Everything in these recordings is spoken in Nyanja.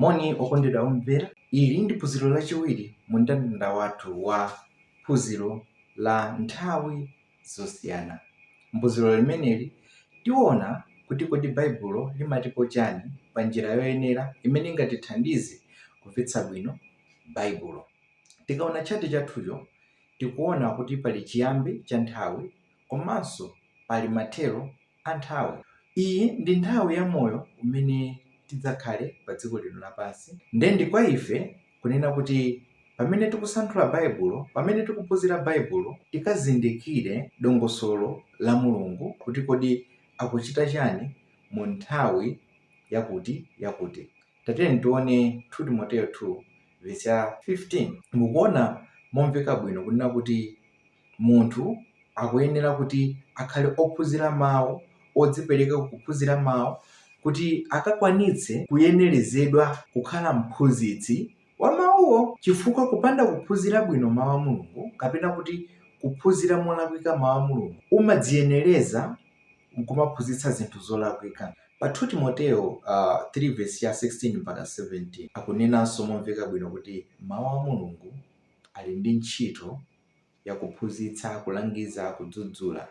Moni okondedwa omvera, ili ndi phunziro lachiwiri mu ndandanda wathu wa phunziro la nthawi zosiyana. Mphunziro limeneli tiona kuti kodi Baibulo limatipo chani pa njira yoyenera imene ingatithandize kumvetsa bwino Baibulo. Tikaona tchati chathucho tikuona kuti pali chiyambi cha nthawi komanso pali mathero a nthawi. Iyi ndi nthawi ya moyo umene tidzakhale pa dziko lino lapansi nde ndi kwa ife kunena kuti pamene tikusanthula Baibulo, pamene tikuphunzira Baibulo tikazindikire dongosolo la Mulungu kuti kodi akuchita chani mu nthawi yakuti yakuti. Tatiyeni tione 2 Timoteyo 2 vesi ya 15. Mukuona momveka bwino kunena kuti munthu akuyenera kuti akhale ophunzira mau, odzipereka kukuphunzira mau kuti akakwanitse kuyenerezedwa kukhala mphunzitsi wa mawuwo. Chifukwa kupanda kuphunzira bwino Mau a Mulungu kapena kuti kuphunzira molakwika Mau a Mulungu umadziyenereza nkumaphunzitsa zinthu zolakwika. Pa 2 Timoteo uh, 3 vesi ya 16 mpaka 17 akunenanso momveka bwino kuti Mau a Mulungu ali ndi ntchito yakuphunzitsa, kulangiza, kudzudzula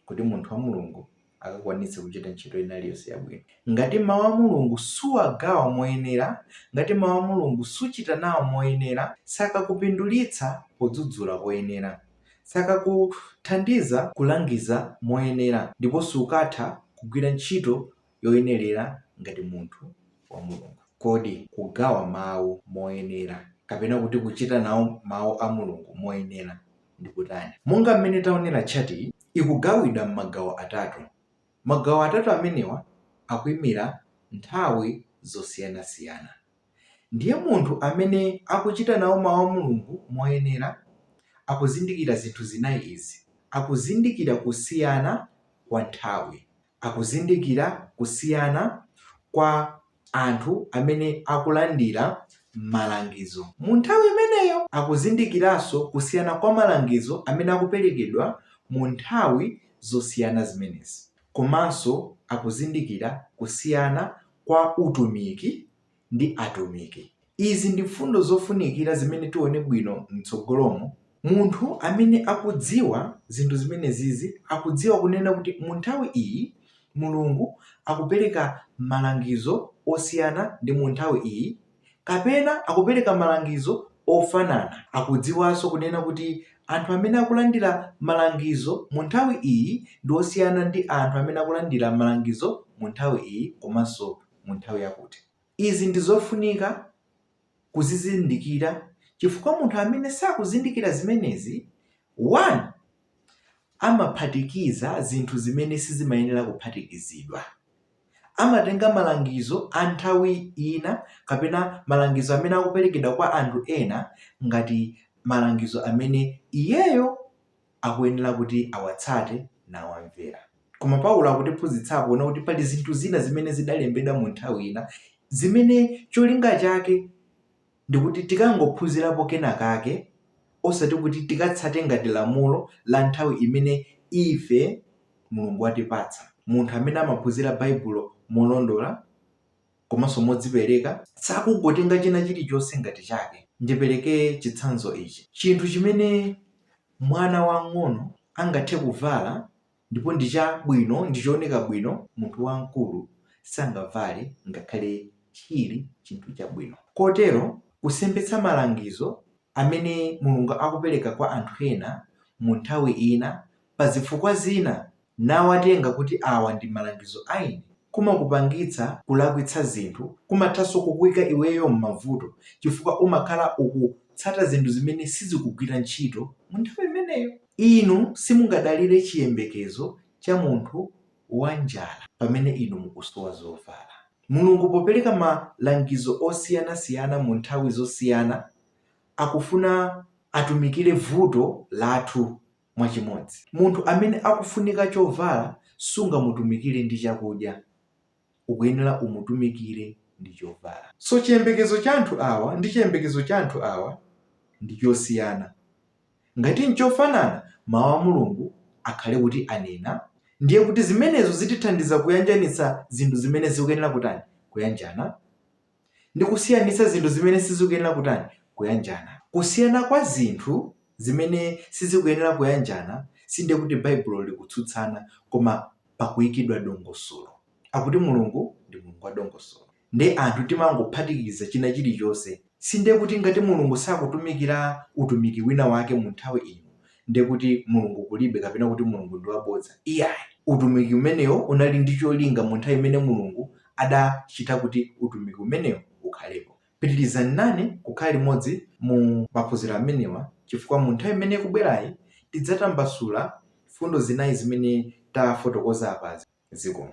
kuti munthu wa Mulungu akakwanitse kuchita ntchito ina iliyonse yabwino. Ngati Mawu a Mulungu suwagawa moyenera, ngati Mawu a Mulungu suchita nawo moyenera, sakakupindulitsa podzudzula poyenera, sakakuthandiza kulangiza moyenera, ndipo sukatha kugwira ntchito yoyenerera ngati munthu wa Mulungu. Kodi kugawa Mawu moyenera, kapena kuti kuchita nawo Mawu a Mulungu moyenera, ndi kutani? Monga mmene taonera, tchatiyi ikugawidwa m'magawo atatu. Magawo atatu amenewa akuimira nthawi zosiyanasiyana. Ndiye munthu amene akuchita nawo Mawu a Mulungu moyenera akuzindikira zinthu zinayi izi, Akuzindikira kusiyana kwa nthawi. akuzindikira kusiyana kwa anthu amene akulandira malangizo mu nthawi imeneyo. Akuzindikiranso kusiyana kwa malangizo amene akuperekedwa mu nthawi zosiyana zimenezi komanso akuzindikira kusiyana kwa utumiki ndi atumiki. Izi ndi mfundo zofunikira zimene tione bwino mtsogolomu. Munthu amene akudziwa zinthu zimenezizi akudziwa kunena kuti mu nthawi iyi Mulungu akupereka malangizo osiyana ndi mu nthawi iyi kapena akupereka malangizo ofanana. Akudziwaso kunena kuti anthu amene akulandira malangizo mu nthawi iyi ndi osiyana ndi anthu amene akulandira malangizo mu nthawi iyi komanso mu. mu nthawi yakuti. Izi ndi zofunika kuzizindikira chifukwa munthu amene sakuzindikira zimenezi, amaphatikiza zinthu zimene sizimayenera kuphatikizidwa, amatenga malangizo a nthawi ina kapena malangizo amene akuperekedwa kwa anthu ena ngati malangizo amene iyeyo. akuyenera kuti awatsate nawamvera. Koma Paulo akutiphunzitsa apa kunena kuti pali zinthu zina zimene zidalembedwa mu nthawi ina zimene cholinga chake ndikuti tikangophunzirapo kena kake osati kuti tikatsate ngati lamulo la nthawi imene ife Mulungu watipatsa. Munthu amene amaphunzira Baibulo molondola. komanso modzipereka, sakungotenga china chilichonse ngati chake. Ndipereke chitsanzo ichi, Chinthu chimene mwana wamng'ono angathe kuvala ndipo ndi chabwino, ndi chooneka bwino, munthu wamkulu sangavale ngakhale chili chinthu chabwino. Kotero, kusemphetsa malangizo amene Mulungu akupereka kwa anthu ena mu nthawi ina, pa zifukwa zina, nawatenga kuti awa ndi malangizo a ine kumakupangitsa kulakwitsa zinthu, kumathanso kukuika iweyo m'mavuto chifukwa umakhala ukutsata zinthu zimene sizikugwira ntchito mu nthawi imeneyo. Inu simungadalire chiyembekezo cha munthu wa njala pamene inu mukusowa zovala. Mulungu popereka malangizo osiyanasiyana mu nthawi zosiyana, akufuna atumikire vuto lathu mwa chimodzi. Munthu amene akufunika chovala sungamutumikire ndi chakudya, ukuyenera umutumikire ndi chovala. So chiyembekezo cha anthu awa ndi chiyembekezo cha anthu awa ndi chosiyana. Ngati nchofanana, Mau a Mulungu akhale kuti anena, ndiye kuti zimenezo zitithandiza kuyanjanitsa zinthu zimene zikuyenera kutani, kuyanjana ndi kusiyanitsa zinthu zimene sizikuyenera kutani, kuyanjana. Kusiyana kwa zinthu zimene sizikuyenera kuyanjana sindiye kuti Baibulo likutsutsana koma pakuyikidwa dongosolo. Akuti Mulungu ndi Mulungu wa dongosolo. Ndiye anthu timangophatikiza china chilichonse. Sindiye kuti ngati Mulungu sakutumikira utumiki wina wake mu nthawi ino ndiye kuti Mulungu kulibe kapena kuti Mulungu ndi wabodza. Iyayi. Utumiki umenewo unali ndi cholinga mu nthawi imene Mulungu adachita kuti utumiki umenewo ukhalepo. Pitirizani nane kukhala limodzi mu maphunziro amenewa chifukwa mu nthawi imene ikubwerayi tidzatambasula mfundo zinayi zimene tafotokoza apazi. Zikomo.